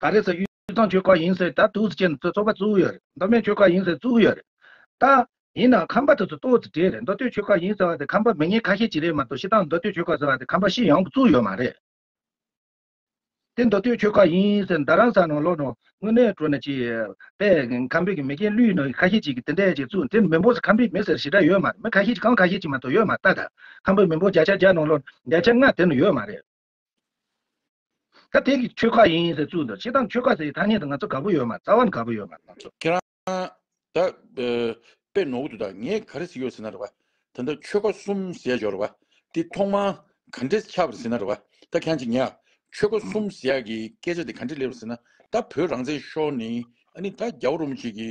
ད་རེས་སུ་གཡུ་ཐང་ཆོལ་ཁ་ཡིན་ཟེར་ད་དུས་སུ་ཁྱེད་ཚོ་ཚོགས་པ་བཙུགས་ཡོད་རེད་མདོ་སྨད་ཆོལ་ཁ་ཡིན་ཟེར་བཙུགས་ཡོད་རེད་ད། ཡིན་ནའང་ཁམས་པ་དེ་ཚོ་ལྟོས་དེ་རེད་མདོ་སྟོད་ཆོལ་ཁ་ཡིན་ཟེར་བ་དེ་ཁམས་པ་མི་ངན་ཁ་ཤས་ཀྱི་རེད་མ་གཏོགས་ཤི་སྟངས་མདོ་སྟོད་ཆོལ་ཁ་ཟེར་བ་དེ་ཁམས་པ་ཤི་ཡང་གི་བཙུགས་ཡོད་མ་རེད། དེ་མདོ་སྟོད་ཆོལ་ཁ་ཡིན་ཟེར་མདའ་རང་ས་ནང་ལོག་ནང་དངོས་གནས་བྲོ་ནས་ཅིག་པས་ཁམས་པའི་གི་མི་རྒན་གླུའི་ནང་གི་ཁ་ཤས་ཅིག་གི་དེ་འད་ཅིག་བཙུགས་དེ་མི་འབོར་ས་ཁམས་པའི་མི་ཟེར་ཞི་དྲག་ཡོད་མ་རེད་མི་ཁ་ཤས་ཅིག་གང་ཁ་ཤས་ཅིག་མ་གཏོགས་ཡོད་མ་ད་ད་ཁམས་པའི་མི་འབོར་བརྒྱ་ཆ་བརྒྱ་ནང་ལོག་བརྒྱ་ཆ་ལྔ་དེ་ནང་ཡོད་མ་རེད། ད་དེ་གི་ཁྱོད་ཁ་ཡིན་ཟེར་ཚུལ་དང་ཕྱི་དང་ཁྱོད་ཁ་ཟེར་ཐ་སྙད་དུ་ང་ཚོ་དགའ་པོ་ཡོད་མ་རྩ་བ་ནས་དགའ་པོ་ཡོད་མ་རེད། ཁྱེད་རང་ད་དཔེ་ནོར་འདུག་ད་ངས་ག་རེ་ཟེར་ཡོད་ཟེར་ན་རེད་བ། ད་ད་ཁྱོད་ཁ་གསུམ་ཟེར་ཡོད་རེད་བ། དེ་ཐོག་མར་ག་འདྲས་ཆགས་པར་ཟེར་ན་རེད་བ། ད་གང་ཅིག་ངས་ཁྱོད་ཁ་གསུམ་ཟེར་ཡག་གི་སྐད་ཆ་དེ་ག་འདྲས་སླེབས་རེད་ཟེར་ན། ད་བོད་རང་བཙན་ཤོར་ནས་ཨ་ནི་ད་རྒྱ་བོ་རུམ་ཅིག་གི་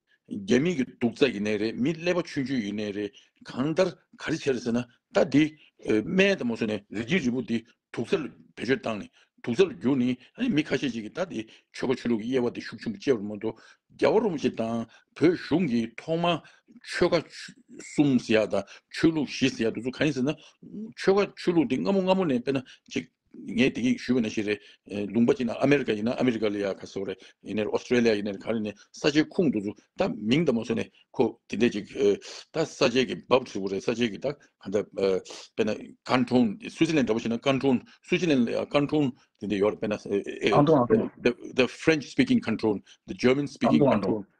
རྒྱ་མི་གི་སྡུག་རྩ་ཡི་ནས་རེད་མི་ཀླད་པ་ཆུན་ཆུན་ཡི་ནས་རེད་གང་ལྟར་ག་རེ་བྱེད་རེད་ཟེར་ན་ད་དེ་སྨད་ད་མོ་བཟོས་ནས་རི་སྐྱིད་རི་བོ་དེ་དུག་རྩ་ལ་བེད་སྤྱོད་བཏང་ནས་དུག་རྩ་ལ་བསྒྱུར་ནས་ཨ་མི་ཁ་ཤས་ཅིག་གི་ད་དེ་ཆོལ་ཁ་ཆོས་ལུགས་ཀི་དབྱེ་བ་དེ་ཤུགས་ཆེན་པོ་སྤྱད་པ་མ་གཏོགས་རྒྱ་བ་རོ་མ་ཞིག་དང་བོད་གཞུང་གི་ཐོག་མ་ཆོལ་ཁ་གསུམ་ཟེར་ཡག་དང་ཆོས་ལུགས་བཞི་ཟེར་ཡག་དུ་ཚུགས་ག་རེ་ཟེར་ན་ཆོལ་ཁ་ཆོས་ལུགས་དེ་སྔ་མོ་སྔ་མོ་ནས་དཔེར་ན་ཅིག། ངས་དེ་གིས་ཞུས་པ་ནི་ཞིག་རེད། ལུང་པ་གཅིག་ན་ཨ་མེ་རི་ཀ་ཡིན་ན་ཨ་མེ་རི་ཀ་ལ་ཡ་ག་སོགས་རེད། ཡིན་ནའི Australia ཡིན་ནའི་ག་རེ་ནི་ས་ཆའི་ཁུངས་འདུག་ཚུལ་ད་མིང་ད་མ་གསུངས་ནས་ཁོ་དེ་འད་ཅིག་ད་ས་ཆའི་གི་བབ་ཧྲིལ་བོ་རེད་ས་ཆའི་གི་ད་ག་འདྲ་དཔེར་ན་ཀན་ཀྲུང Switzerland འདྲ་པོ་ཞིག་ན་ཀན་ཀྲུང Switzerland ལ་ཡ་ཀན་ཀྲུང་དེ་འད་ཡོད་རེད་དཔེར་ན་ཨང་ཀྲུང་ཨང་ཀྲུང། the French speaking ཀན་ཀྲུང the German ཨང speaking ཀྲུང་ཀན་ཨང་ཀྲུང་ཀྲུང།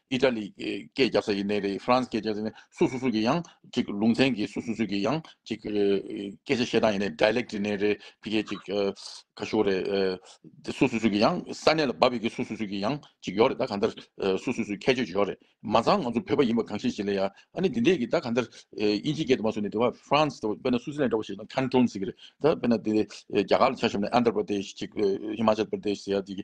ཨི་ཏྲ་ལི་སྐད་རྒྱབ་ས་ཡིན་ནའི་རེད་ཧྥ་རན་སི་སྐད་རྒྱབ་ས་ཡིན་ནའི་སུ་སུ་སུ་གི་ཡང་ཅིག་ལུང་ཚན་གྱི་སུ་སུ་སུ་གི་ཡང་ཅིག་སྐད་ཆ་བཤད་སྟངས་ཡིན་ནའི Dialect ཡིན་ནའི་རེད་ཕི་གས་ཅིག་ག་ཤོག་རེད་དེ་སུ་སུ་སུ་གི་ཡང་ས་གནས་ལ་བབས་ཡོད་ཀྱི་སུ་སུ་སུ་གི་ཡང་ཅིག་ཡོག་རེད་ད་ག་འདར་སུ་སུ་སུ་ཁྱད་ཆོས་ཅིག་ཡོག་རེད་མ་ཚང་ང་ཚོ་བོད་པ་ཡིན་པ་གང་ཤེས་ཤེས་ལེ་ཡ་ཨ་ནི་དེ་འདྲས་ཀྱི་ད་ག་འདར་ཨིན་ཇི་སྐད་དུ་མ་སུ་ནི་དེ་བ་ཧྥ་རན་སི་དཔེར་ན་སུ་སི་ལན་འདྲ་བ་ཞིག་ན Canton ཟེར་གྱི་རེད་ད་དཔེར་ན་དེ་རྒྱ་གར་ལ་ཆ་ཤོམ་ནའི Andhra Pradesh ཅིག Himachal Pradesh ཟེར་ཡ་དེ་གི་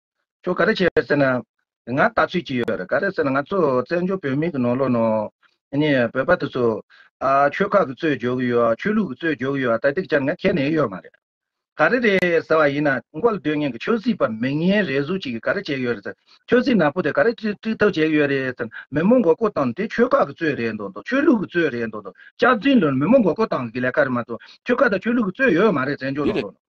ཁྱོད་ག་རེ་བྱས་ཟེར་ན། ང་ལྟ་ཚུལ་གྱིས་ཡོད་རེད་ག་རེ་ཟེར་ན་ང་ཚོ་བཙན་བྱོལ་བོད་མིའི་གི་ནོར་ལོག་ནོར། ནི་བོད་པ་དེ་ཚོ། ཨ་ཆོལ་ཁ་གི་རྩོད་རྒྱོ་གི་ཡོད་ཨ་ཆོལ་ལུགས་གི་རྩོད་རྒྱོ་གི་ཡོད་ཨ་ད་དེ་གི་ཆར་ང་ཁྱེད་ནས་ཡོད་མ་རེད། ག་རེ་རེད་ཟེར་བ་ཡིན་ན་མགོ་ལ་སྡོད་ངན་གི་ཆོས་སྲིད་པ་མི་ངན་རེ་གཟུགས་གཅིག་གི་ག་རེ་བྱས་ཡོད་རེད་ཟེར་ཆོས་སྲིད་ནག་པོ་དེ་ག་རེ་དཀྲི་དཀྲི་ཐབས་བྱས་གི་ཡོད་རེད་ཟེར་ན་མི་མོ་མགོ་སྐོར་བཏང་ནི་དེ་ཆོལ་ཁ་གི་རྩོད་རེད་འདོད་འདོད་ཆོས་ལུགས་གི་རྩོད་རེད་འདོད་འདོད་ལྕགས་རྫིང་ལོན་མི་མོ་མགོ་སྐོར་བཏང་གི་གི་ལས་ཀ་རེད་མ་གཏོགས་ཆོལ་ཁ་དང་ཆོས་ལུགས་གི་རྩོད་ཡོད་མ་རེད་བཙན་བྱོལ་ནང་ལོག་ནོར།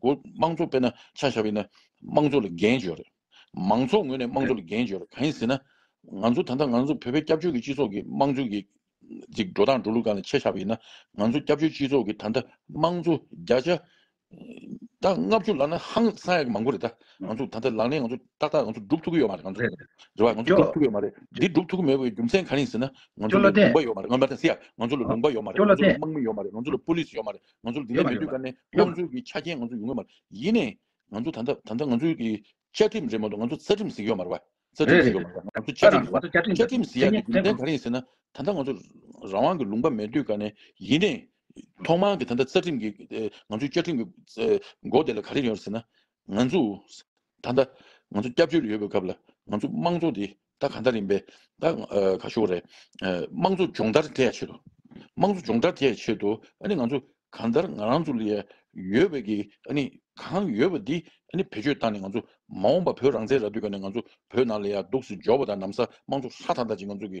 དགོས། དམངས་གཙོ་དཔེར་ན་ཆ་བཞག་པས་ན་དམངས་གཙོ་ལ་འགན་བཅོལ། མང་ཚོགས་ངོས་ནས་དམངས་གཙོ་ལ་འགན་བཅོལ་གང་ཡིན་ཟེར་ན། ང་ཚོ་ད་ལྟ་ང་ཚོ་བོད་པའི་སྐྱབས་བཅོལ་གྱི་སྤྱི་ཚོགས་ཀྱི་དམངས་གཙོའི་གྱི། ཅིག་འགྲོ་སྟངས་འགྲོ་ལུགས་གང་ལ་ཆ་བཞག་པས་ན། ང་ཚོ་སྐྱབས་བཅོལ་སྤྱི་ཚོགས་ཀྱི་ད་ལྟ་དམངས་གཙོ་བརྒྱ་ཆ། ད་ལྔ་བཅུ་ལག་ན་ཧང་སང་ཡག་གི་མང་པོ་རེད་ད། ང་ཚོ་ད་ལྟ་ལག་ལེན་ང་ཚོ་ཏག་ཏག་ང་ཚོ་སྒྲུབ་ཐུབ་ཀྱི་ཡོད་མ་རེད་ང་ཚོ། རེད་པ་ང་ཚོ་སྒྲུབ་ཐུབ་ཀྱི་ཡོད་མ་རེད། འདི་སྒྲུབ་ཐུབ་ཀྱི་མེད་པའི་རྒྱུ་མཚན་གང་ཡིན་ཟེར་ན། ང་ཅོ་ཚོ་ལ་ལ་ལུང་ལྡན། པ་ཡོད་མ་རེད་ང་ཚོ་ལ་ལུང་པ་ཡོད་མ་རེད་ང་ཅོ་ལ་ཚོ་ལ་ལུང་པ་ཡོད་མ་རེད་ང་ལྡན། ཚོ་ལ་དམག་མི་ཡོད་མ་རེད་ང་ཚོ་ལ་པོ་ལིས་ཡོད་མ་རེད། ང་ཚོར་འདི་འདྲ་མི་འདོད་ཀ་ནས་དམངས་གཙོའི་གི་ཆ་རྐྱེན་ང་ཚོར་ཡོང་གི་མ་རེད། ཡིན་ནས་ང་ཚོ་ད་ལྟ་ད་ལྟ་ང་ཚོའི་གི་བཅའ་ཁྲིམས་རེད་མ་གཏོགས་ང་ཚོ་རྩ་ཁྲིམས་ཟིག་ཡོད་མ་རེད་བ། རྩ་ཁྲིམས་ཟིག་ཡོད་མ་རེད་བ། ང་ཚོ་བཅའ་ཁྲིམས་ཟིག་བ། བཅའ་ཁྲིམས་ཟིག་ཡ་དེ་རྒྱུ་མཚན་ག་རེ་ཡིན་ཟེར་ན། ད་ལྟ་ང་ཚོ་རང་དབང་གི་ལུང་པ་མེད་འདོད་ཀ་ནས་ཡིན་ནས། ཐོག་མར་གི་ད་ལྟ་རྩ་ཁྲིམས་གི་ང་ཚོའི་བཅའ་ཁྲིམས་གི་མགོ་དེ་ལ་ག་རེ་ཡོད་ཟེར་ན། ང་ཚོས་ད་ལྟ་ང་ཚོ་སྐྱབས་བཅོལ་ཡོད་པའི་སྐབས་ལ་ང་ཚོ་དམངས་གཙོ་དེ་ད་ག་འདྲ་ཡིན་པས་ད་ག་ཞོག་རེད། དམངས་གཙོ་སྦྱོང་བརྡར་དེ་ཡ་ཆེད་དུ། དམངས་གཙོ་སྦྱོང་བརྡར་དེ་ཡ་ཆེད་དུ་ཨ་ནི་ང་ཚོ་ག་འདྲར་ང་རང་ཚོ་ལ་ཡ་ཡོད་པའི་གི་ཨ་ནི་གང་ཡོད་པ་དེ་ཨ་ནི་བེད་སྤྱོད་བཏང་ནས་ང་ཚོ་མ་འོངས་པ་བོད་རང་བཙན་རག་དུས་ཀ་ནས་ང་ཚོ་བོད་ནང་ལ་ཡ་སྡུག་སི་འཇོག་པ་དང་ནམ་ས་དམངས་གཙོ་ཧྲ་ཐག་ཐག་ཅིག་ང་ཚོ་གི་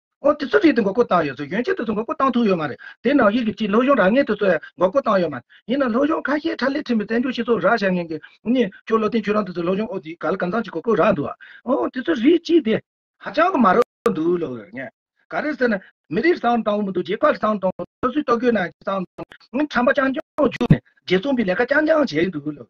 ཨོ་དེ་ཚོ་རིགས་དེ་འགོག་རྒོལ་བཏང་ཡོད་ཚོད་ཡོན་ཆད་དེ་ཚོ་འགོག་རྒོལ་བཏང་ཐུབ་ཡོད་མ་རེད་དེ་ནང་དབྱིག་གི་སྤྱི་ལྷོ་གཞུང་རག་ངན་དེ་ཚོས་འགོག་རྒོལ་བཏང་ཡོད་མ་རེད་ཡིན་ནང་ལྷོ་གཞུང་ཁ་ཤས་ཁྲ་ལེ་ཁྲིམས་པའི་བཙན་བྱོལ་སྤྱི་ཚོགས་རག་བཞག་ངན་གི་གཉིས་ཁྱོད་བློ་བརྟན་ཁྱོད་རང་དེ་ཚོས་ལྷོ་གཞུང་ཨོ་དེ་ག་ལ་གང་ཚང་ཅིག་འགོག་རྒོལ་རག་འདུག་ཨ་ཨོ་དེ་ཚོ་རིགས་སྤྱི་དེ། ཧ་ཅང་གི་མ་རབ་འདུག་ལོ་ཡོད་ངན་ག་རེད་ཟེར་ན་མི་རིགས་བཟང་དང་བོ་མི་འདུག་རྒྱལ་ཁབ་བཟང་དང་བོ་སོ་སོའི་ལྟོ་གོས་ནང་བཟང་དང་བོ་ཁྲམ་པ་རྐྱང་རྐྱང་བརྒྱུགས་ནས་རྒྱལ་བཙོང་པའི་ལས་ཀ་རྐྱང་རྐྱང་བྱས་འདུག་ལོ་ཡོད།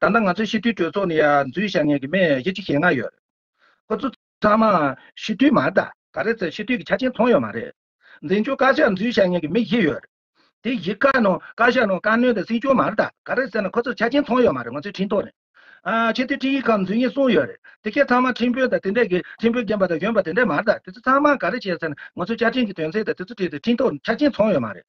ད་ལྟ་ང་ཚོའི་ཤི་དུས་གྲོས་ཚོགས་ནས་ཡར་འཛུལ་བྱ་མཁན་གྱི་མི་བཞི་ཅིག་ཞེ་ལྔ་ཡོད། ཁོ་ཚོ་ཚང་མ་ཤི་དུས་མ་གཏད་ག་རེ་ཚོས་ཤི་དུས་ཀྱི་ཆ་རྐྱེན་མཐོང་ཡོད་མ་རེད། འཛིན་སྐྱོང་བཀའ་ཤག་འཛུལ་བྱ་མཁན་གྱི་མི་བཞི་ཡོད། དེ་བཞི་བཀའ་ནང་བཀའ་ཤག་ནང་བཀའ་བློན་དང་སྲིད་སྐྱོང་མ་གཏད་ག་རེ་བསད་ན་ཁོ་ཚོར་ཆ་རྐྱེན་མཐོང་ཡོད་མ་རེད་ང་ཚོའི་འཕྲིན་ཐོག་ནས། ཆེས་མཐོའི་འཕྲིན་ཡིག་ཁག་འཛུལ་ཉེས་གསུངས་ཡོད་རེད་དེ་གས་ཚང་མ་འཕྲིན་བུ་དང་དེ་འདྲས་ཀྱི་འཕྲིན་བུ་རྒན་པ་དང་གཞོན་པ་དེ་འདྲས་མ་གཏད་དེ་ཚོ་ཚང་མ་ག་རེ་བྱས་ཟེར་ན་ང་ཚོའི་བཅའ་ཁྲིམས་ཀྱི་དོན་ཚན་དང་དེ་ཚོ་བྲིས་ཏེ་འཕྲིན་ཐོག་ཆ་རྐྱེན་མཐོང་ཡོད་མ་རེད།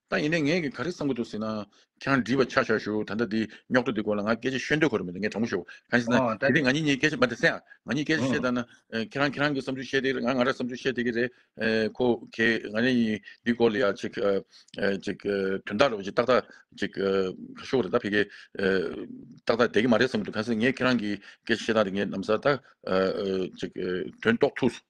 ད་ཡིན་ནའི་ངས་ག་རེ་བསམ་གྱི་འདུག་ཟེར་ན། ཁྱང་འདྲིས་པ་ཆག་ཆག་ཞུ་ད་ལྟ་འདི་རྙོག་དྲ་འདི་སྐོར་ལ་ང་སྐད་ཆ་ཤོད་འདོད་གོ་རེ་མི་འདུག་ངས་དྲང་པོ་ཞུ། གང་ཞེ་ན། ཨོ་ད་དེ་རིང་ང་གཉིས་གཉིས་སྐད་ཆ་མ་དེ་སེ་ཡང། ང་གཉིས་སྐད་ཆ་བཤད་ད་ན། ཁྱེད་རང་ཁྱེད་རང་གི་བསམ་ཚུལ་བཤད་དེ་རེད་ང་ང་ར་བསམ་ཚུལ་བཤད་དེ་གི་རེད། ཁོ་གེ་ང་རེ་ཡིན་འདི་སྐོར་ལ་ཡང་ཅིག། ཅིག། དོན་དག་རེད་བ་ཅིག་ཏག་ཏག་ཅིག། ག་ཤོ་གོ་རེ་ད་ཕེ་གེ། ཏག་ཏག་བསྡད་གི་མ་རེད་བསམ་གྱི་འདུག་གང་ཟེ་ངས་ཁྱེད་རང་གི་སྐད་ཆ་བཤད་ད་རེ་ངས་ནམ་ཟ་ད། ཅིག། དོན་རྟོགས་ཐུགས།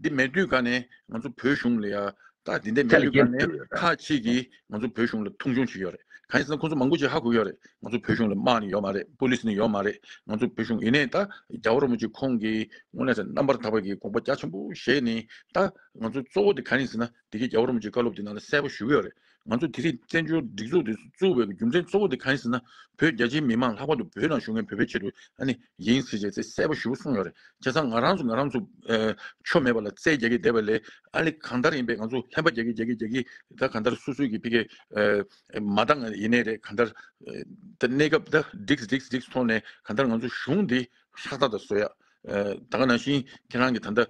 འདི་མེད་དུས་ཀ་ནས་ང་ཚོ་བོད་གཞུང་ལ་ཡག་ད་དེ་འདི་མེད་དུས་ཀ་ནས་ཁ་ཅིག་གིས་ང་ཚོ་བོད་གཞུང་ལ་མཐོང་ཆུང་བྱེད་ཡོད་རེད་གང་ཡིན་ཟེར་ན་ཁོང་ཚོ་མང་པོ་ཅིག་ཧ་གོ་ཡོད་རེད་ང་ཚོ་བོད་གཞུང་ལ་དམག་ནི་ཡོད་མ་རེད་པོ་ལིས་ནི་ཡོད་མ་རེད་ང་ཚོ་བོད་གཞུང་ཡིན་ནས་ད་རྒྱ་བོར་མོ་ཅིག་ཁོང་གིས་སྔོན་ལས་རྣམ་པར་དག་པ་གི་དགོངས་པ་རྒྱ་ཆེན་པོ་བཞེས་ནས་ད་ང་ཚོ་གཙོ་བོ་དེ་ག་ནས་ཟེར་ན་དེ་གི་རྒྱ་བོར་མོ་ཅིག་བཀའ་སློབ་དེ་ནང་ལ་གསལ་པོ་ཞུ་གི་ཡོད་རེད་ང་ཚོ་དེ་རིང་བཙན་བྱོལ་སྒྲིག་འཛུགས་དེ་བཙུགས་པའི་རྒྱུ་མཚན་གཙོ་བོ་དེ་གང་ཡིན་ཟེར་ན་བོད་རྒྱ་ཆེའི་མི་མང་ལྷག་པར་དུ་བོད་ནང་བཞུགས་མཁན་བོད་པའི་ཆེད་དུ་ཡིན་ཟེར་བྱས་ཚེ་གསལ་པོ་ཞུ་གསུངས་ཡོད་རེད་བྱས་ཙང་ང་རང་ཚོ་ང་རང་ཚོ་ཆོ་མེད་པ་ལ་རྩལ་རྒྱག་གི་བསྡད་པ་ལས་ཨ་ལེ་གང་ལྟར་ཡིན་པའི་ང་ཚོ་ལྷན་པ་རྒྱག་གི་རྒྱག་གི་རྒྱག་གི་ད་གང་ལྟར་སུ་སུ་གི་ཕི་གས་མ་བཏང་ང་ཡིན་ནའི་རེད་གང་ལྟར་ད་གནས་སྐབས་ད་སྒྲིགས་སྒྲིགས་སྒྲིགས་ཐོག་ནས་གང་ལྟར་ང་ཚོ་གཞུང་འདི་ཧྲག་ཐག་ད་བཟོ་ཡག་ད་ག་ནང་བཞིན་ཁྱེད་རང་གི་ད་ལྟ་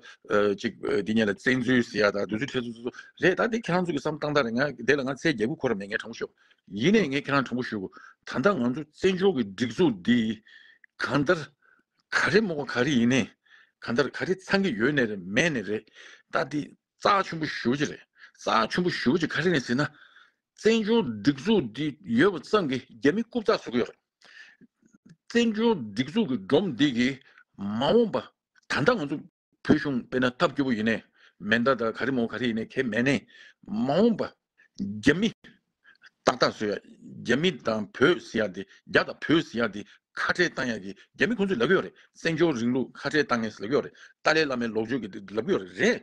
ཅིག་དེ་ཉིད་ལ་བཙན་འཛུལ་ཟེར་ཡ་ད་འདུས་ཚོད་ཁྲེལ་ཚོད་རེད་ད་དེ་ཁྱེད་རང་ཚོ་གི་བསམ་སྟངས་ལྟར་ང་དེ་ལ་ང་ཚའི་རྒྱལ་པོ་ཁོ་ར་མེད་ངས་དྲང་པོ་ཤོད་ཡིན་ནས་ངས་ཁྱེད་རང་དྲང་པོ་ཞུ་ད་ལྟ་ང་ཚོ་བཙན་བྱོལ་གི་སྒྲིག་འཛུགས་འདི་གང་ལྟར་ག་རེ་རྨོ་ག་རེ་ཡིན་ནས་གང་ལྟར་ག་རེ་ཚང་གི་ཡོད་ནས་རེད་མེད་ནས་རེད་ད་དེ་རྩ་ཆུན་པོ་ཞུ་ཅི་རེད་རྩ་ཆུན་པོ་ཞུ་ཅི་ག་རེ་ནས་ཟེར་ན་བཙན་བྱོལ་སྒྲིག་འཛུགས་འདི་ཡོད་པ་ཙམ་གྱི་རྒྱ་མི་རྐུབ་ཚགས་བཟོ་གི་ཡོད་རེད། བཙན་བྱོལ་སྒྲིག་འཛུགས་ཀྱི་སྒྲོམ་འདེགས་ཀྱི་མ་འོངས་པ་ད་ལྟ་ང་ཚོ་བོད་གཞུང་དཔེར་ན་ཐབས་སྐྱོ་པོ་ཡིན་ནའི་མེ་མདའ་དང་ག་རེ་མོ་ག་རེ་ཡིན་ནའི་གལ་མེད་ནའི་མ་འོངས་པ་རྒྱ་མི་ཏག་ཏག་བཟོས་ཡ་རྒྱ་མི་དང་བོད་བཟི་ཡ་དེ་རྒྱ་དང་བོད་བཟི་ཡ་དེ་ཁ་བྲལ་བཏང་ཡ་གི་རྒྱ་མི་ཁོང་ཚོས་ལབ་ཀྱི་ཡོད་རེད་བཙན་བྱོལ་རིང་ལུགས་ཁ་བྲལ་བཏང་ངེས་ལབ་ཀྱི་ཡོད་རེད་ཏཱ་ལའི་བླ་མའི་ལོག་སྤྱོད་ཀྱི་ལབ་ཀྱི་ཡོད་རེད་རེད།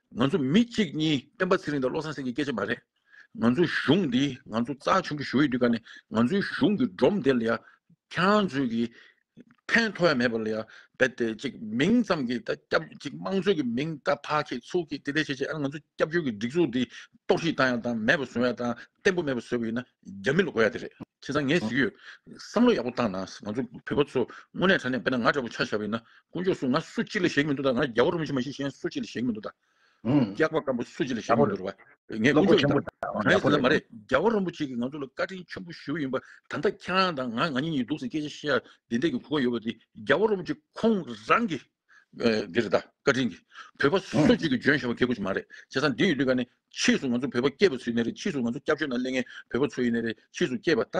ང་ཚོ་མི་གཅིག་གཉིས་སྤེན་པ་ཚེ་རིང་དང་བློ་བཟང་སེང་གེ་སྐད་ཆ་མ་རེད། ང་ཚོའི་གཞུང་འདི་ང་ཚོ་རྩ་ཆེན་པོ་ཞུ་ཡི་འདུག་ག་ནི་ང་ཚོའི་གཞུང་གི་སྒྲོམ་དེ་ལ་ཡང་ཁྱང་ཚོས་ཀྱི་ཕན་ཐོག་ཡ་མེད་པ་ལ་ཡང་བལ་ཏེ་ཅིག་མིང་ཙམ་གྱི་ད་སྐྱབས་ཅིག་དམངས་གཙོའི་གི་མིང་ད་ཕ་ཁྱེད་ཚུགས་ཁྱེད་དེ་དེ་བྱེད་བྱེད་ཨ་ནི་ང་ཚོ་སྐྱབས་བཅོལ་གྱི་སྒྲིག་འཛུགས་འདི་རྟོག་ཞིག་བཏང་ཡ་བཏང་མེད་པ་བཟོ་ཡ་བཏང་བརྟན་པོ་མེད་པ་བཟོ་གི་ཡིན་ན། རྒྱ་མི་ལ་གོ་ཡ་དེ་རེད་ཁྱེད་ཚང་ངས་གཟིགས་ཡོད་བསམ་བློ་ཡག་པོ་བཏང་ན་ང་ཚོ་བོད་པ་ཚོ་དངོས་གནས་དྲ་གནས་དཔེ་ན་ང་འདྲ་པོ་ཆ་བཞག་པ་ཡིན་ན་དཀོན་མཆོག་སུ་ང་སུ་གཅིག་ལ་ཞེག་མི་འདུག་ད་ང་རྒྱ་བོ་རུ་མི་ཞིག་མ་ཞིག་གཞན་སུ་གཅིག་ལ་ཞེག་མི་འདུག་ད་སྐྱག་པ་སྐམ་པོ་སུ་གཅིག་ལ་ཞེག་མི་འདུག་བ་ངས་དཀོན་མཆོག་ཡིན་ད་གང་ཡིན་ཟེར་ན་མ་རེད་རྒྱ་བོ་རིན་པོ་ཆེ་གིས་ང་ཚོ་ལ་བཀའ་དྲིན་ཆེན་པོ་ཞུ་ཡིན་པ་ད་ལྟ་ཁྱེད་རང་དང་ང་ང་གཉིས་གཉིས་འདུག་ཟེར་སྐད་ཆ་བཤད་ཡ་བདེན་འདེད་ཀྱི་གོ་སྐབས་ཡོད་པ་དེ་རྒྱ་བོ་རིན་པོ་ཆེ་ཁོང་རང་གིས། འདི་རེད་ད་བཀའ་དྲིན་གྱིས་བོད་པ་སུ་གཅིག་གིས་འཇོན་ཤེས་པ་མཁས་པོ་ཞིག་མ་རེད་བྱས་ཙང་འདི་ཡི་ལུས་ཀ་ནི་ཕྱིས་སུ་ང་ཚོ་བོད་པ་སྐྱེས་པ་སུ་ཡིན་ནི་རེད་ཕྱིས་སུ་ང་ཚོ་སྐྱབས་བཅོལ་ནང་གླེང་མཁན་བོད་པ་ཚོ་ཡིན་ནི་རེད་ཕྱིས་སུ་སྐྱེས་པ་ད་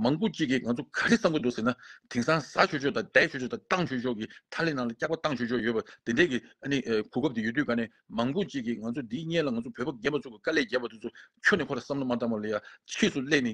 མང་པོ་གཅིག་གིས་ང་ཚོ་ག་རེ་བསམ་གི་འདུག་ཟེར་ན་དེང་སང་ཟ་ཆོས་ཆོས་དང་བསྡད་ཆོས་ཆོས་དང་བཏང་ཆོས་ཆོས་ཀྱི་མཐའ་ལས་ནང་ལ་སྐྱག་པ་བཏང་ཆོས་ཆོས་ཡོད་པ་དེ་འདྲས་ཀྱི་ཨ་ནི་གོ་སྐབས་དེ་ཡོད་དུས་ག་ནི་མང་པོ་གཅིག་གིས་ང་ཚོ་འདི་གཉེས་ལ་ང་ཚོ་བོད་པ་རྒན་པ་ཚོ་གི་དཀའ་ལས་རྒྱབ་པ་དེ་ཚོ་ཁྱོད་ནི་ཁོ་ལ་བསམ་བློ་མ་བཏང་བ་ལ་ཡ་ཕྱིས་སུ་སླད་ནི་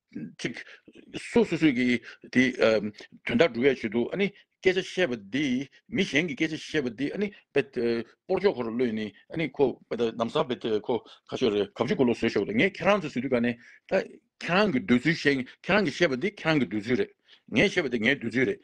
ཅིག། སོ་སོ་སོས་ཀྱིས་དེ། དོན་དག་སྒྲུབ་ཡ་བྱེད་དོ། སྐད་ཆ་བཤད་པ་འདི། མི་གཞན་གྱི་སྐད་ཆ་བཤད་པ་འདི། སྤོར་ཆོག་ཁོ་རུ་གློད་ནས། ཁོ། ནམ་སང་བས། ཁོ། ཁ་ཤོ་རེ། གབ་ཆུ་གུ་ལོ་བཟོས་ཤོག་དང། ངས་ཁྱེད་རང་ཚོ་བཟོས་དུས་ཀ་ནས། ཁྱེད་རང་གི་འདོད་ཚུལ་བཤད། ཁྱེད་རང་གིས་བཤད་པ་འདི་ཁྱེད་རང་གི་འདོད་ཚུལ་རེད། ངས་བཤད་པ་འདི་ངའི་འདོད་ཚུལ་རེད།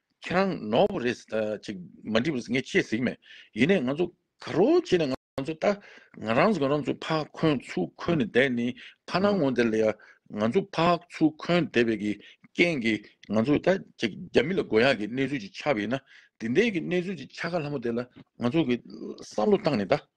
ཁྱེད་རང་ནོར་བ་རེད་ཅིག་མ་འགྲིག་པ་ངས་ཤེས་ཟིག་མེད་ཡིན་ནས་ང་ཚོ་ག་རོ་བྱས་ནས་ང་ཚོ་ལྟ་ང་རང་ཚོ་ང་རང་ཚོ་ཕག་འཁོན་ཚུ་འཁོན་ནས་བསྡད་ནི་ཕ་ནང་ངོ་འདེར་ལ་ཡ་ང་ཚོ་ཕག་ཚུ་འཁོན་བསྡད་པའི་གི་རྐྱེན་གི་ང་ཚོ་ད་ཅིག་རྒྱ་མི་ལ་དགོས་ཡག་གི་གནས་ཚུལ་ཅིག་ཆགས་པ་ཡིན་ན་དེ་འད་གི་གནས་ཚུལ་ཅིག་ཆགས་ཁ་ལྷ་མོ་དེ་ལ་ང་ཚོ་གི་བསམ་བློ་བཏང་ནས་ད།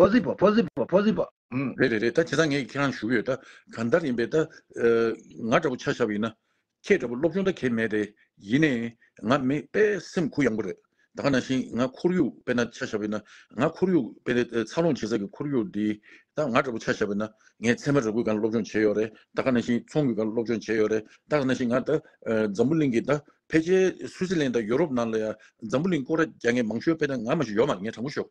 ཕོ་ཟི་པོ་ཕོ་ཟི་པོ་ཕོ་ཟི་པོ་ཨ། རེད་རེད་རེད་ད་དེ་དག་ངས་ཁྱེད་རང་ལ་ཞུ་གི་ཡོད་ད་གང་ལྟར་ཡིན་པས་ད། ང་འདྲ་པོ་ཆ་ཞབས་ཡིན་ན། ཁྱེད་འདྲ་པོ་སློབ་སྦྱོང་ད་གས་མེད་རེད་ཡིན་ནས། ང་མི་དཔེ་སེམས་ཁུར་ཡང་པོ་རེད་ད་ག་ནང་བཞིན་ང་ཁོར་ཡུག་དཔེ་ན་ཆ་ཞབས་ཡིན་ན། ང་ཁོར་ཡུག་དཔེ་ནི་འཚར་ལོངས་བྱེད་ས་ཀྱི་ཁོར་ཡུག་འདི་ད་ང་འདྲ་པོ་ཆ་ཞབས་ཡིན་ན། ངས་ཚད་མ་ར་གུད་གང་ལ་སློབ་སྦྱོང་བྱས་ཡོད་རེད་ད་ག་ནང་བཞིན་ཚོང་གི་གང་ལ་སློབ་སྦྱོང་བྱས་ཡོད་རེད་ད་ག་ནང་བཞིན་ང་ད། འཛམ་བུ་གླིང་གི་ད་ཕལ་ཆེར་སུའུ་ཙི་ལན་དང་ཡོ་རོབ་ནང་ལ་ཡང་འཛམ་བུ་གླིང་ཀོ་ར་རྒྱག་མཁན་མང་ཤོས་དཔེ་ན་ང་མ་ཞིག་ཡོད་མ་རེད་ངས་དྲང་པོ་ཤོད།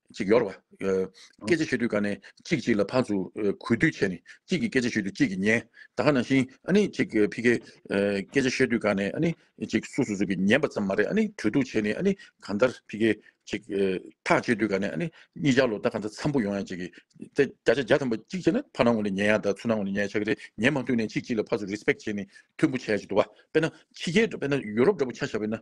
གཅིག་གཡོར་བ། སྐད་ཆ་བཤད་དུས་ཀ་ནས་གཅིག་གཅིག་ལ་ཕར་ཚུར་གུས་འདུད་བྱས་ནས་གཅིག་གིས་སྐད་ཆ་ཤོད་དུས་གཅིག་གིས་ཉན། ད་ག་ནང་བཞིན་ཨ་ནི་གཅིག་ཕི་ཁེ། སྐད་ཆ་བཤད་དུས་ཀ་ནས་ཨ་ནི་གཅིག་སུ་སུ་སུ་གིས་ཉན་པ་ཙམ་མ་རེད་ཨ་ནི་གྲོས་བསྡུར་བྱས་ནས་ཨ་ནི་གང་ལྟར་ཕི་ཁེ། གཅིག། ཐག་བཅད་དུས་ཀ་ནས་ཨ་ནི་གཉིས་ཆར་ལོ་ཟླ་ག་ཚ་འཚམ་པོ་ཡོང་ཡ་གཅིག་གིས། ད་བརྒྱ་ཆ་བརྒྱ་ཐམ་པ་གཅིག་བྱས་ན་ཕར་ནང་ངོ་ནས་ཉན་ཡ་དང་ཚུར་ནང་ངོ་ནས་ཉན་ཡ་ཆགས་ཀྱི་རེད་ཉན་མ་ཐུབ་ནས་གཅིག་གཅིག་ལ་ཕར་ཚུར་རེས་སྤེག་བྱས་ནས་མཐུན་པོ་བྱས་ཡ་ཅིག་འདུག་བ། དཔེར་ན་ཕྱི་རྒྱལ་དཔེར་ན་ཡུ་རོབ་འདྲ་པོ་ཆ་བཞག་པས་ན་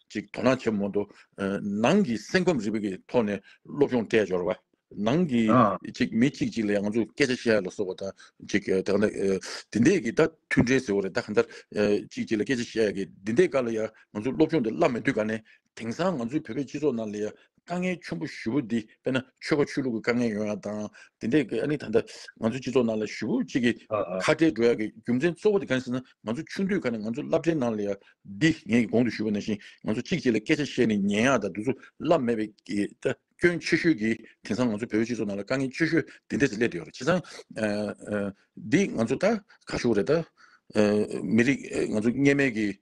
གཅིག་དོ་སྣང་ཆེན་མོ་འདུག། ནང་གི་སེམས་ཁམས་རིག་པ་གི་ཐོག་ནས་སློབ་སྦྱོང་སྤྲད་འབྱོར་བ། ནང་གི་གཅིག་མི་གཅིག་གཅིག་ལ་ཡང་ང་ཚོས་སྐད་ཆ་བཤད་ཡ་ལ་སོགས་པ་དང་གཅིག་དེ་ག་ནས་དེ་འད་གི་ད་མཐུན་འབྲེལ་ཟེར་བ་རེད་ད་ག་འདར་གཅིག་གཅིག་ལ་སྐད་ཆ་བཤད་ཡ་གི་དེ་འད་ག་ལ་ཡང་ང་ཚོས་སློབ་སྦྱོང་དེ་བསླབ་མི་འདུག་ག་ནས་དེང་སང་ང་ཚོའི་བོད་པའི་སྤྱི་ཚོགས་ནང་ལ་ཡང་དཀའ་ངལ་ཆེན་པོ་བཞི་བོ་འདི་དཔེར་ན་ཆོལ་ཁ་ཆོས་ལུགས་ཀྱི་དཀའ་ངལ་ཡོང་ཡག་དང་དེ་འདྲས་ཀྱི་ཨ་ནི་ད་ལྟ་ང་ཚོའི་སྤྱི་ཚོགས་ནང་ལ་བཞི་བོ་གཅིག་གི་ཁ་བྲལ་འགྲོ་ཡག་གི་རྒྱུ་མཚན་གཙོ་བོ་དེ་གང་ཟེར་ན་ང་ཚོ་ཆུང་དུས་ཁ་ནས་ང་ཚོ་བསླབ་གྲྭའི་ནང་ལ་ཡང་འདི་ངས་གོང་དུ་ཞུས་པ་ནང་བཞིན་ང་ཚོ་གཅིག་གཅིག་ལ་སྐད་ཆ་བཤད་ནས་ཉན་ཡག་དང་དུས་ཚོད་བསླབ་མེད་པའི་སྐྱོན་ཆེ་ཤོས་ཀྱི་དེང་སང་ང་ཚོ་བོད་པའི་སྤྱི་ཚོགས་ནང་ལ་དཀའ་ངལ་ཆེ་ཤོས་དེ་འདྲས་སུ་སླེབས་བསྡད་ཡོད་རེད་བྱས་ཙང་འདི་ང་ཚོ་ད་ཁ་ཤོར་རེད་ད་མི་རིགས་ང་ཚོ་གཉེན་མེད་ཀྱི་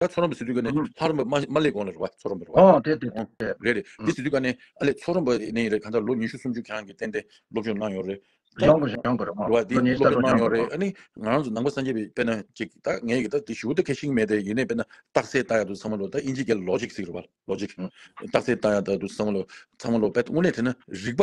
ད་ཚོ་རོམ་པའི་སི་ཏུ་ཀ་ནི་ཧ་རོམ་པ་མ་མ་ལེ་གོང་ལ་རུ་བ་ཚོ་རོམ་པའི་རུ་བ་ཨོ་དེ་དེ་དེ་ཨོ་དེ་རེད་རེད་དེ་སི་ཏུ་ཀ་ནི་ཨ་ལེ་ཚོ་རོམ་པ་ནས་ཡིན་རེད་གང་ལྟར་ལོ་ཉི་ཤུ་སུམ་ཅུ་གྱང་གི་སྟེང་དེ་སློབ་སྦྱོང་གནང་ཡོང་རེད་ཨོ་གཞོན་དགོས་གཞོན་དགོས་རེད་ཨོ་རུ་བ་དེ་ལོ་སློབ་ཉེས་གསར་སྦྱོང་རོགས་གནང་ཡོང་གནང་རེད་དགོས་ཨ་ནི་ང་རང་ཚོ་ནང་པ་སངས་རྒྱས་པའི་དཔེ་ན་ཅིག་ད་ངས་ཀྱི་ད་དེ་ཞུ་དེ་ཁེ་ཤིང་མེད་དེ་ཡིན་ནའི་དཔེ་ན་རྟགས་གསལ་ལྟ་ཡག་འདུག་ཚང་མ་ལོ་ད་དབྱིན་ཇིའི་སྐད་ལ་ལོ་ཇིག་ཟིག་རུ་བ་ལོ་ཇིག་ཨོ་རྟགས་གསལ་ལྟ་ཡག་ད་འདུག་ཚང་མ་ལོ་ཚང་མ་ལོ་དཔེ་དངོས་གནས་དེ་ན་རིག་པ་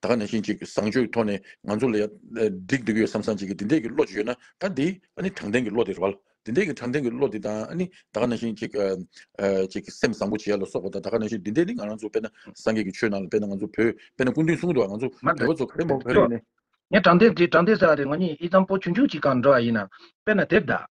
ད་ག་ནས་ཤིང་གཅིག་བཟང་སྤྱོད་ཐོག་ནས་ང་ཚོ་ལ་ཡ་སྒྲིག་འདུག་ཡོད་བསམ་བསམ་བྱེད་ཀྱི་འདི་འདྲས་ཀྱི་བློ་ཅིག་ཡོད་ན་ད་འདི་ཨ་ནི་དྲང་བདེན་གྱི་བློ་དེ་རེད་བ། འདི་འདྲས་ཀྱི་དྲང་བདེན་གྱི་བློ་དེ་དང་ཨ་ནི་ད་ག་ནས་ཤིང་གཅིག་གཅིག་སེམས་བཟང་པོ་བྱེད་ཡ་ལ་སོགས་པ་དང་ད་ག་ནས་ཤིང་འདི་འདྲས་ནི་ང་རང་ཚོ་དཔེར་ན་སངས་རྒྱས་ཀྱི་ཆོས་ནང་ལ་དཔེར་ན་ང་ཚོ་བོད་དཔེར་ན་སྐུ་མདུན་གསུང་དུ་བ་ང་ཚོ་མ་འདོད་བོད་པ་ཚོ་ག་རེ་མོ་འདོད་བོད་རིགས་ནི། ངས་དྲང་བདེན་འདི་དྲང་བདེན་ཟེར་བ་དེ་ངོ་གཉིས་ཨི་ཙམ་པོ་ཆུང་ཆུང་གཅིག་གང་འདྲ་བ་ཡིན་ནམ་དཔེར་ན་དེབ་བདག།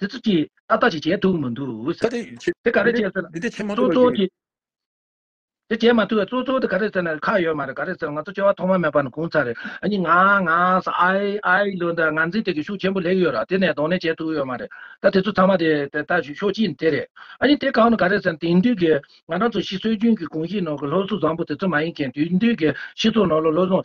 དེ་ཚོ་ཀྱིས་ཨ་ལྟ་ཞིག་བྱས་འདུག་མ་འདུག་ཟེར། དེ་ག་རེ་བྱས་ཟེར་ན། དེ་བྱས་མ་ཐུབ་པར་གྱི། དེ་བྱས་མ་ཐུབ་པར་ཙོག་ཙོག་དེ་ག་རེ་ཟེར་ན་ཁག་ཡོད་མ་རེད་ག་རེ་ཟེར་ན་ང་ཚོ་སྐྱེ་བ་ཐོག་མ་མེད་པ་ནས་གུང་ཚ་རེད་ཨ་ཉི་ང་ང་ས་ཨའི་ཨའི་ལོ་འདི་ང་འཛིན་སྟེགས་ཀྱི་ཤུགས་ཆེན་པོ་ལེགས་ཡོད་ར་དེ་ནས་གདོང་ལེན་བྱས་ཐུབ་ཡོད་མ་རེད་ད་དེ་ཚོ་ཚང་མ་དེ་དེ་ལྟ་ཞིག་ཤོག་ཅིག་དེ་རེད་ཨ་ཉི་དེ་གང་ནས་ག་རེ་ཟེར་ན་དེང་དུས་ཀྱི་ང་རང་ཚོ་ཤི་སྲོལ་རྒྱུན་གྱི་གུང་གཞིས་ནང་གི་སློབ་གསོ་བཟང་པོ་དེ་ཚོ་མ་ཡིན་མཁན་དུས་འདིའི་གཞི་ཚོགས་ནང་ལ་བློ་བཟང་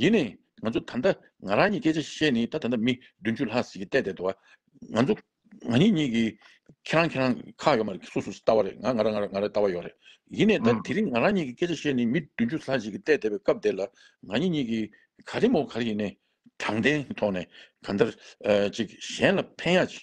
ཡིན་ནས་ང་ཚོ་ད་ལྟ་ང་རང་གཉིས་སྐད་ཆ་བཤད་ནི་ད་ད་ལྟ་མི་བདུན་ཅུ་ལྷག་ཟིག་གིས་བལྟས་བསྡད་འདུག་ང་ཚོ་ང་གཉིས་གཉིས་ཀྱིས་ཁྱེད་རང་ཁྱེད་རང་ཁག་ཡོད་མ་རེད་སུ་སུ་ལྟ་བ་རེད་ང་ང་རང་ང་རང་ལྟ་བ་ཡོད་རེད་ཡིན་ནས་ད་དེ་རིང་ང་རང་གཉིས་ཀྱིས་སྐད་ཆ་བཤད་ནི་མི་བདུན་ཅུ་ལྷག་ཟིག་གིས་བལྟས་བསྡད་པའི་སྐབས་དེ་ལ་ང་གཉིས་གཉིས་ཀྱིས་ག་རེ་མོ་ག་རེ་ཡིན་ནས་དྲང་བདེན་གྱི་ཐོག་ནས་གང་ལྟར་ཅིག་གཞན་ལ་ཕན་ཡག་ཅིག་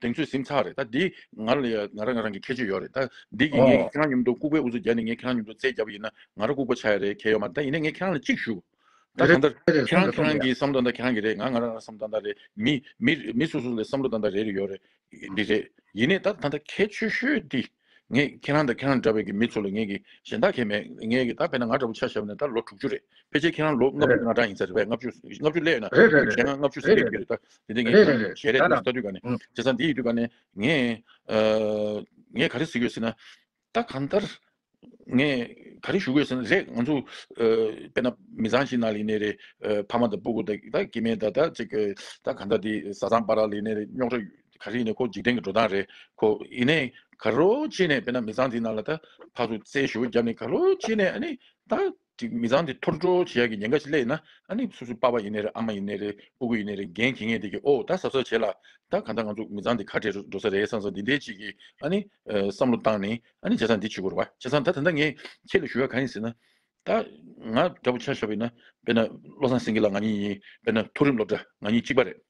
དེང་ཚོད་ཟིན་ཚར་རེད་ད་འདི་ང་རང་ང་རང་རང་གི་ཁྱད་ཆོས་ཡོད་རེད་ད་འདི་གི་ངས་ཁྱེད་རང་ཉིན་མོ་ལྟོ་ལྐུགས་པའི་འུ་ཚོ་རྒྱ་ནས་ངས་ཁྱེད་རང་ཉིན་མོ་ལྟོ་རྩེད་རྒྱབ་ཡིན་ན་ང་རང་ལྐུགས་པ་ཆགས་ཡོད་རེད་ཁྱེད་ཡོད་མ་ད་ཡིན་ན་ངས་ཁྱེད་རང་ལ་གཅིག་ཞུ་ད་གང་ལྟར་ཁྱེད་རང་ཁྱེད་རང་གི་བསམ་བློ་ད་ཁྱེད་རང་གི་རེད་ང་ང་རང་རང་བསམ་བློ་ད་ལྟ་རེད་མི་མི་མི་སོ་སོ་ལ་བསམ་བློ་ད་ལྟ་རེ་རེ་ཡོད་རེད་འདི་རེད་ཡིན་ནས་ད་ད་ལྟ་ཁྱད་ཆོས་ཤོས་འདི། ངས་ཁྱེད་རང་དང་ཁྱེད་རང་འདྲ་བའི་མི་ཚོ་ལ་ངས་ཀྱི་གཞན་དག་ཁྱེད་མེད་ངས་ཀྱི་ད་བས་ན་ང་འདྲ་བོ་ཆ་ཞབས་ནས་ད་ལོ་དྲུག་ཅུ་རེད་ཕལ་ཆེར་ཁྱེད་རང་ལོ་ལྔ་བཅུ་ང་གྲངས་ཡིན་ས་རེད་བས་ལྔ་བཅུ་ལྔ་བཅུ་ལས་ཡོད་ན་རེད་རེད་རེད་ཁྱེད་རང་ལྔ་བཅུ་ཟིན་རེད་པའི་རེད་རེད་རེད་དེ་ངས་ཁྱེད་རང་རེད་ཞལ་རེད་རེད་ཟེར་ས་དུས་འགའ་ནས་ཨང་བྱས་ས་འདི་ཡི་དུས་འགའ་ནས་ངས་ངས་ག་རེ་ཟེར་གྱི་ཡོད་ཟེར་ན་ད་གང་ལྟར་ངས་ག་རེ་ཞུ་གི་ཡོད་ཟེར་ན་རེད་ང་ཚོ་དཔེར་ན་མི་ཚང་ཞིག་ན་ལས་ནས་རེད་ཕ་མ་དང་སྤུ་གུ་དང་ད་ཀྱེ་མེད་ད་ད་ཅིག་གི་ད་གང་ལྟར་དེ་བཟའ་ཚང་སྤ་རག་ལས་ནས་རེད་རྙོག་དྲ་ག་རེ་ཡིན་ནའི་ཁོ་འཇིག་རྟེན་གྱི་འགྲོ་སྟངས་རེད་ཁོ། ཡིན་ནའི་ག་རོ་ཅི་ནའི་དཔེར་ན་མི་ཚང་དེའི་ནང་ལ་ད་ཕག་ཏུ་རྩལ་ཞུ་བ་བརྒྱབ་ནའི་ག་རོ་ཅི་ནའི་ཨ་ནི་ད་ཀྱི་མི་ཚང་དེ་ཐོར་འགྲོ་བྱེད་ཡག་གི་ཉེན་ཁ་ཞིག་སླེབས་ན་ཨ་ནི་སུ་སུ་པ་པ་ཡིན་ནའི་རེད་ཨ་མ་ཡིན་ནའི་རེད་ཨུ་གུ་ཡིན་ནའི་རེད་འགན་འཁྱེར་ངེས་དེ་ཀྱི་ཨོ་ད་ཟབ་ཟབ་བྱེད་ལ་ད་ག་ད་ང་ཚོ་མི་ཚང་དེ་ཁ་བྲལ་འགྲོ་ས་རེད་སང་སང་འདི་འདྲའི་ཅིག་གི་ཨ་ནི་བསམ་བློ་བཏང་ནས་ཨ་ནི་བྱས་ཙང་འདི་བྱེད་དགོས་རེད་བ་བྱས་ཙང་ད་ད་ནྡ་ངས་ཁྱེད་ལ་ཞུ་ཡག་ག་ཡིན་ཟེར་ན་ད་ང་འདྲ་པོ་ཆ་ཞོག་པ་ཡིན་ན་དཔེར་ན་བློ་བཟང་སེང་གེ་ལགས་ང་གཉིས་ཡིན་དཔེར་ན་ཐུགས་རིམ་སློབ་གྲྭ་ང་གཉིས་གཅིག་པ་རེད།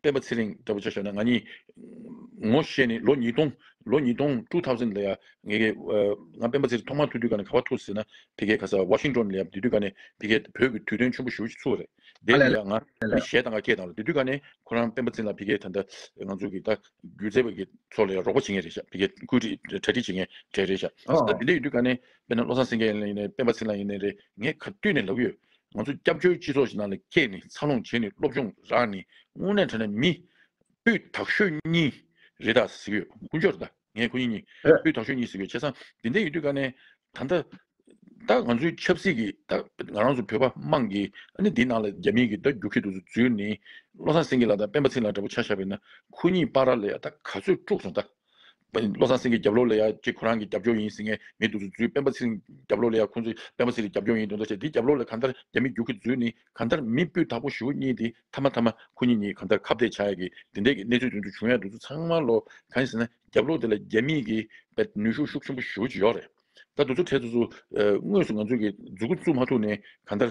སྤེན་པ་ཚེ་རིང་ལྟ་བུ་ཆ་ཤོས་ན་ང་གཉིས། ངོ་ཤེས་ནི་ལོ་ཉིས་སྟོང། ལོ་ཉིས་སྟོང two thousand ལ་ཡ། ངེད་གཉིས། ང་སྤེན་པ་ཚེ་རིང་ཐོག་མར་ཐུག་དུས་ག་ནས་ག་བར་ཐུག་ཟེར་ན། དེ་གའི་ག་ས Washington ལ་ཡ་དེ་དུས་ག་ནས་དེ་གའི་བོད་ཀྱི་དུས་སྟོན་ཆེན་པོ་ཞུ་བྱེད་ཚུལ་བ་རེད། དེ་ནས་ཡ་ང། མི་གཞས་དང་ག་སྐད་དང་ལ་དེ་དུས་ག་ནས་ཁོ་རང་སྤེན་པ་ཚེ་རིང་ལ་དེ་གའི་ད་ལྟ་ང་ཚོ་གི་ད་སྒྱུ་རྩལ་བ་ཀྱི་ཚོ་ལ་ཡ་རོགས་པ་བྱེད་ངེས་རེད་བྱ་དེ་གའི་བཀོད་སྒྲིག་གྲ་སྒྲིག་བྱེད་ངེས་རེད་རེད་བྱ། ད་དེ་འདྲ་ཡོད་དུས་ག་ནས་དཔེར་ན་བློ་བཟང་སེང་གེ་ཡིན་ལ་ཡིན་ནས་སྤེན་པ་ཚེ་རིང་ལ་ཡིན་ནས་རེད་ངས་ག་དུས་ནས་ལབ་ཀྱི་ཡོད། ང་ཚོ་སྐྱབས་བཅོལ་སྤྱི་ཚོགས་ཤིག་ནང་ལ་སྐྱེས་ནས་འཚར་ལོངས་བྱས་ནས་སློབ་སྦྱོང་རག་ནས་དངོས་གནས་དྲན་ན་མི། སྤུས་དག་ཤོས་གཉིས་རེད་ད་ཟེར་གྱི་ཡོད་དཀོན་མཆོག་རེད་ད་ངས་ཁོ་གཉིས་གཉིས་སྤུས་དག་ཤོས་གཉིས་ཟེར་གྱི་ཡོད་བྱས་ཙང་དེ་འད་ཡོད་དུས་ཀ་ནས་ད་ད་ད་ང་ཚོའི་ཆབ་སྲིད་ཀྱི་ད་ང་རང་ཚོ་བོད་པ་དམངས་ཀྱི་ཨ་ནི་དེ་ནང་ལ་རྒྱ་མིའི་གི་ད་རྒྱུག་གི་འདུག་ཚུལ་འཛུལ་ནས་བློ་བཟང་སེང་གེ་ལ་ད་སྤེན་པ་ཚིག་ལ་འདྲ་པོ་ཆགས་ཤག་པས་ན་ཁོ་གཉིས་པ་ར་ལ་ཡ་ད་ག་ཚོད་དཀྲུགས་སོང་ད། བློ་བཟང་སེང་གེས་རྒྱབ་ལོག་ལས་ཡ་གཅིག་ཁོ་རང་གི་རྒྱབ་སྐྱོར་ཡིན་ཟེར་ངེས་མེད་འདུག་ཟུར་འཛུལ་སྤེན་པ་ཚེ་རིང་རྒྱབ་ལོག་ལས་ཡ་ཁོང་ཚོའི་སྤེན་པ་ཚེ་རིང་རྒྱབ་སྐྱོར་ཡིན་འདུག་མདོ་བྱས་འདིའི་རྒྱབ་ལོག་ལས་གང་ལྟར་རྒྱ་མི་རྒྱུག་གི་འཛུལ་ནི་གང་ལྟར་མི་སྤུས་དག་པོ་བཞུགས་གཉིས་འདི་མཐའ་མ་མཐའ་མ་ཁོ་གཉིས་གཉིས་གང་ལྟར་ཁ་བརྡས་བྱ་ཡག་གི་འདི་འདྲས་ཀྱི་གནས་ཚུལ་དོན་དུ་བྱུང་ཡག་འདུག་ཚུལ་ཚང་མ་ལོ་གང་ཞེ་ན་རྒྱབ་ལོག་འདི་ལ་རྒྱ་མིས་ཀྱི་པའི་ནུས་ཤུགས་ཤུགས་ཆེན་པོ་བཞུགས་ཀྱི་ཡོག་རེད་ད་འདུག་ཚུལ་ཁྲལ་ཚུལ་ཚུལ་དངོས་སུ་ང་ཚོས་ཀྱི་འཛུགས་སྐུ་བཙུགས་མ་ཐུབ་ནི་གང་ལྟར།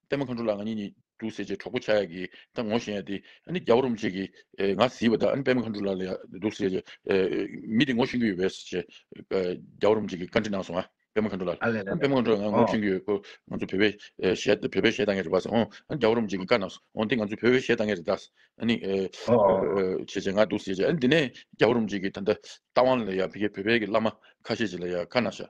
པད་མ་མཁའ་འགྲོ་ལ་ང་ཉིད་ཉིད་དུ་ཟེར་བྱའི་གྲོགས་པོ་ཆགས་ཡག་གིས་ད་ངོ་ཤེས་ཡ་དེ་ཨ་ནི་རྒྱ་བོ་རུམ་བྱེད་ཀྱིས་ང་བཟི་བ་ད་ཨ་ནི་པད་མ་མཁའ་འགྲོ་ལ་ལ་ཡག་འདུག་ཟེར་བྱའི་མི་དེ་ངོ་ཤེས་ཀྱི་ཡོད་པས་ཟེར་བྱའི་རྒྱ་བོ་རུམ་བྱེད་ཀྱིས་བཀའ་འདྲི་གནང་སོང་ཨ་པད་མ་མཁའ་འགྲོ་ལ་ཨ་ལས་ལས་ལས་པད་མ་མཁའ་འགྲོ་ལ་ང་ངོ་ཤེས་ཀྱི་ཡོད་ཁོ་ང་ཚོ་བོད་པའི་གཞས་བོད་པའི་གཞས་གཏང་མཁན་རེད་པ་ཟེར་ཨོང་ཨ་ནི་རྒྱ་བོ་རུམ་བྱེད་ཀྱིས་བཀའ་གནང་སོང་ཨོང་དེ་ང་ཚོ་བོད་པའི་གཞས་གཏང་མཁན་རེད་དཱ་ཨ་ནི་བྱེད་བྱེད་ང་འདུག་ཟེར་བྱའི་ཨ་ནི་དེ་ནས་རྒྱ་བོ་རུམ་བྱེད་ཀྱིས་ད་ལྟ་རྟ་དབང་ལ་ཡ་བྷི་གའི་བོད་པའི་གི་བླ་མ་ཁ་ཤས་ཅིག་ལ་ཡ་བཀའ་གནང་ཤག་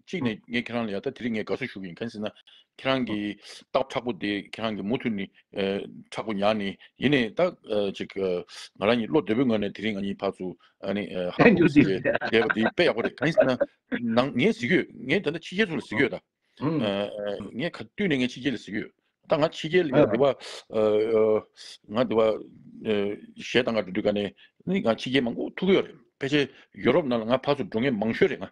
གཅིག་ནས་ངས་ཁྱེད་རང་ལ་ཡ་ད་དེ་རིང་ངས་དགའ་བསུ་ཞུ་གི་ཡིན་གན་ཟེར་ན། ཁྱེད་རང་གི་རྟགས་ཁྲག་པོ་དེ་ཁྱེད་རང་གི་མུ་མཐུད་ནི་ཁྲག་པོ་ཉག་ནི་ཡིན་ནས་ད་ཅིག་ང་རང་གཉིས་བློ་བདེ་པོའི་ངོས་ནས་དེ་རིང་ང་གཉིས་བར་དུ་ཧ་ཧ་ཨུ་ཨུ་ཟེར་བའི་བསྡད་པ་དེ་དཔེ་ཡག་པོ་རེད་གན་ཟེར་ན། ངས་གཟིགས་ཀྱི་ཡོད་ངས་ད་ནི་ཕྱི་རྒྱལ་ཚོ་ལ་གཟིགས་ཀྱི་ཡོད་ད། ངས་ག་དུས་ནས་ངས་ཕྱི་རྒྱལ་ལ་གཟིགས་ཀྱི་ཡོད་ད་ང་ཕྱི་རྒྱལ་ཡ་དེ་བ་ང་དེ་བ་གཞས་དང་ག་འགྲོ་དུས་ག་ནས་ནི་ང་ཕྱི་རྒྱལ་མང་པོ་ཐུག་ཀྱི་ཡོད་རེད་ཕལ་ཆེར་ཡོ་རོབ་ནང་ལ་ང་བར་དུ་འགྲོ་ངེས་མང་ཤོས་རེད་ང།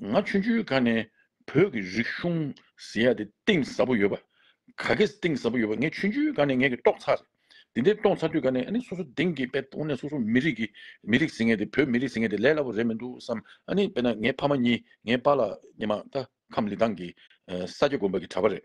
ང་ཆུང་ཆུང་ག་ནས་བོད་ཀྱི་རིག་གཞུང་ཟེར་ཡ་དེ་གཏིང་ཟབ་པོ་ཡོད་པ་ག་གེ་གཏིང་ཟབ་པོ་ཡོད་པ་ངས་ཆུང་ཆུང་ག་ནས་ངས་ཀྱི་རྟོགས་ཚར་རེད་དེ་འདི་རྟོགས་ཚར་དུས་ག་ནས་ཨ་ནི་སོ་སོ་དེང་གི་དཔེ་དངོས་གནས་སོ་སོ་མི་རིགས་ཀྱི་མི་རིགས་ཟེར་ངེས་དེ་བོད་མི་རིགས་ཟེར་ངེས་དེ་ལས་སླ་པོ་རེད་མི་འདུག་བསམ་ཨ་ནི་དཔེ་ན་ངའི་ཕ་མ་གཉིས་ངའི་པ་ལ་ཉི་མ་ལྟ་ཁམས་ལི་ཐང་གི་ས་སྐྱ་དགོན་པ་གྱི་གྲྭ་པ་རེད།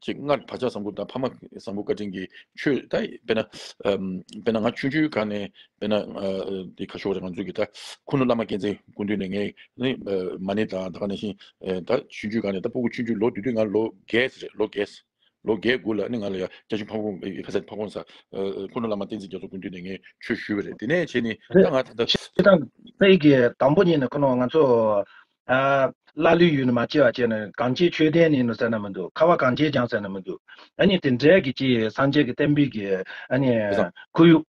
ཅེས་སྔར་བག་ཆགས་བཟང་པོ་དང་ཕ་མ་བཟང་པོ་བཀའ་དྲིན་གྱིས་ཆོས་ད་དཔེ་ན། དཔེ་ན་ང་ཆུང་ཆུང་ག་ནས་དཔེ་ན། དེ་ཁ་ཤོ་རེད་ང་ཚོས་གི་ད་ཁུ་ནུ་བླ་མ་མཁྱེན་བརྩེ་སྐུ་མདུན་ནས་ངས་ནི། མ་ནི་ད་ག་ནས་བཞིན་ད་ཆུང་ཆུང་ག་ནས་ད་སྤུ་གུ་ཆུང་ཆུང་ལོ་དུས་དུས་ང་ལོ་བརྒྱད་རེད་ལོ་བརྒྱད། ལོ་བརྒྱད་དགུ་ལ་ནི་ང་ལ་ཡ་རྒྱ་ཆུང་ཕ་གོང་ཕ་ས་ཕ་གོང་ས། ཁུ་ནུ་བླ་མ་བསྟན་འཛིན་རྒྱ་མཚོ་སྐུ་མདུན་ནས་ངས་ཆོས་ཞུས་པ་རེད་དེ་ནས་བྱས་ནི་ད་ང་ད། ཁྱེད་རང་ཚེ་ཡི་གེ་དང་པོ་ཉིད་ནས་ཁོ་ནའོ་ང་ཚོ། ཀླ་ཀློའི་ཡུལ་ནི་མ་སྐྱེས་བ་སྐྱེས་ནས་གང་སྐྱེས་ཆོས་ལྡན་ནི་ཟེར་ན་མི་འདུག་ཁ་བ་གང་སྐྱེས་ཀྱང་ཟེར་ན་མི་འདུག་ཨ་ནི་དེ་འདྲའི་གི་ཅི་སངས་རྒྱས་ཀྱི་བསྟན་པའི་གི་ཨ་ནི་དེ་སང། ཁོར་ཡུག།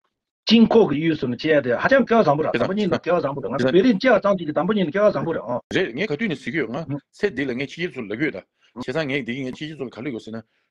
དཀྱིལ་འཁོར་གྱི་གཡུལ་སོ་ནི་སྐྱེས་དེ་ཧ་ཅང་སྐལ་བ་བཟང་པོ་ར་དེ་དང་པོ་གཉིས་ནི་སྐལ་བ་བཟང་པོ་རེད་ང་དེ་ཚོ་སང། བེ་རི་སྐྱེས་བ་ཚང་གཅིག་གི་དང་པོ་གཉིས་ནི་སྐལ་བ་བཟང་པོ་རེད་ཨོ། རེད་ངས་ག་དུས་ནས་ཟིག་གི་ཡོད་ང། ཚེ་འདི་ལ་ངས་ཕྱི་རྒྱལ་དུ་ལབ་ཡོད་ད། བྱས་ཙང་ངས་འདི་གི་ངས་ཕྱི་རྒྱལ་ཚོ་ལ་ག་ལུས་ཡོད་ཟེར་ན།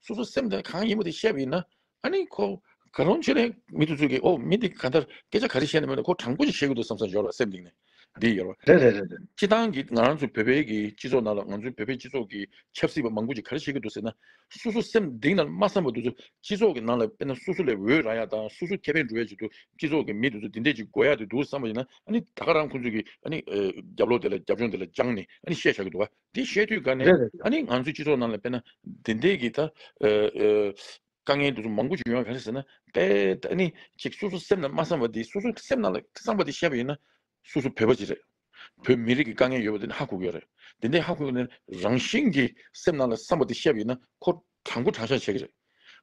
སོ་སོ་སེམས་དེ་གང་ཡིན་པ་དེ་བཤད་པ་ཡིན་ན་ཨ་ནི་ཁོ་ག་རུང་ཆོས་ལས་མི་འདུག་ཚུལ་གྱིས་ཨོ་མི་འདི་གང་ལྟར་སྐད་ཆ་ག་རེ་བཤད་ནས་མོད་ན་ཁོ་དྲང་པོ་ཞིག་བཤད་གི་འདུག་བསམ་བསམ་ཞོར་ལ་སེམས་གཏིང་ནས་འདི་ཡོད་རེད་རེད་རེད་རེད། སྤྱི་བཏང་གིས་ང་རང་ཚོའི་བོད་པའི་གི་སྤྱི་ཚོགས་ནང་ལ་ང་ཚོའི་བོད་པའི་སྤྱི་ཚོགས་ཀྱི་ཆབ་སྲིད་པ་མང་པོ་ཅིག་ག་རེ་བཤད་གི་འདུག་ཟེར་ན། སོ་སོ་སེམས་གཏིང་ནང་སྨྲ་བསམ་པ་འདུག་ཚུལ་སྤྱི་ཚོགས་ཀྱི་ནང་ལ་དཔེར་ན་སོ་སོ་ལས་འོས་ར་ཡག་དང་སོ་སོ་ཁེ་ཕན་འགྲོ་ཡག་ཅིག་འདུག་སྤྱི་ཚོགས་ཀྱི་མི་འདི་ཚོ་འདི་འདྲས་ཅིག་འགོ་ཡག་དེ་འདུག་བསམ་པ་ཡིན་ན་ཨ་ནི་ད་ག་རང་ཁོང་ཚོ་གིས་ཨ་ནི་རྒྱབ་ལོག་དེ་ལ་རྒྱབ་ལྗོངས་དེ་ལ་སྦྱངས་ནས་ཨ་ནི་བཤད་བཞག་གི་འདུག་ག། དེ་བཤད་དུས་དགའ་ནས་རེད་རེད། ཨ་ནི་ང་ཚོའི་སྤྱི་ཚོགས་ནང་ལ་དཔེར་ན་དེ་འད་ཀྱི་ད་དཀའ་ངལ་འདི་ཚོ་མང་པོ་བྱུང་ཡོང་ག་རེད་ཟེར་ན་དཔེར་ཨ་ནི་ཅིག་སོ་སོ་སེམས་ནང་མ་བསམ་པ་དེ་སོ་སོ་སེམས་ནང་ལ་བསམ་པ་དེ་བཤད་པ་ཡིན་ན་སོ་སོ་བོད་པ་ཅིག་རེད། བོད་མི་རིགས་ཀྱི་དཀའ་ངལ་ཡོད་པ་དེ་ནི་ཧ་གོ་གི་ཡོད་རེད་དེ་འད་ཧ་གོ་གི་ཡོད་ན་རང་བཞིན་གྱིས་སེམས་ནང་ལ་བསམ་པ་དེ་བཤད་པ་ཡིན་ན་ཁོ་དྲང་པོ་དྲང་བཞག་བྱེད་ཀྱི་རེད།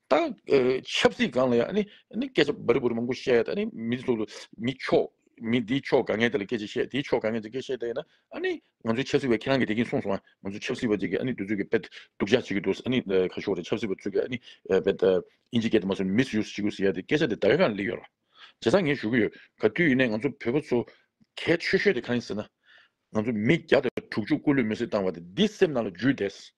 ད་ཆབ་སྲིད་སྒང་ལ་ཡང་ནི་སྐད་ཆ་འབར་འབུར་མང་པོ་བཤད་དེ་ནི་མི་ཚོ་ལ་མི་ཕྱོགས་མི་འདིའི་ཕྱོགས་དགའ་ངན་དེ་ལ་སྐད་ཆ་བཤད་དེའི་ཕྱོགས་དགའ་ངན་དེ་སྐད་བཤད་དེ་ན་ཨ་ནི་ང་ཚོའི་ཆབ་སྲིད་པ་ཁྱེད་རང་གི་དེ་གིན་གསུངས་སོང་ཨ་ང་ཚོའི་ཆབ་སྲིད་པ་དེ་གིས་ཨ་ནི་དུས་ཚོད་ཀྱི་དཔེ་སྡུག་བཞག་བྱེད་ཀྱི་འདུག་ཨ་ནི་ཁ་ཤོར་རེད་ཆབ་སྲིད་པ་ཚོས་ཀྱི་ཨ་ནི་དཔེ་དབྱིན་ཇི་སྐད་དེ་མ་གསུངས་མིས་ཡུས་བྱེད་ཀྱི་ཟེར་ཡ་དེ་སྐད་ཆ་དེ་ད་ག་གང་ལེགས་ཡོད་ར་བྱས་ཙང་ངས་ཞུ་གི་ཡོད་ག་དུས་ཡིན་ནའི་ང་ཚོ་བོད་པ་ཚོ་གལ་ཆོས་ཤོས་དེ་གང་ཡིན་ཟེར་ན། ང་ཚོ་མི་བརྒྱ་དང་དྲུག་ཅུ་སྐུ་ལུས་མེར་སྲེག་བཏང་བ་དེ་འདི་སེམས་ནང་ལ་འཇུས་བསྡད།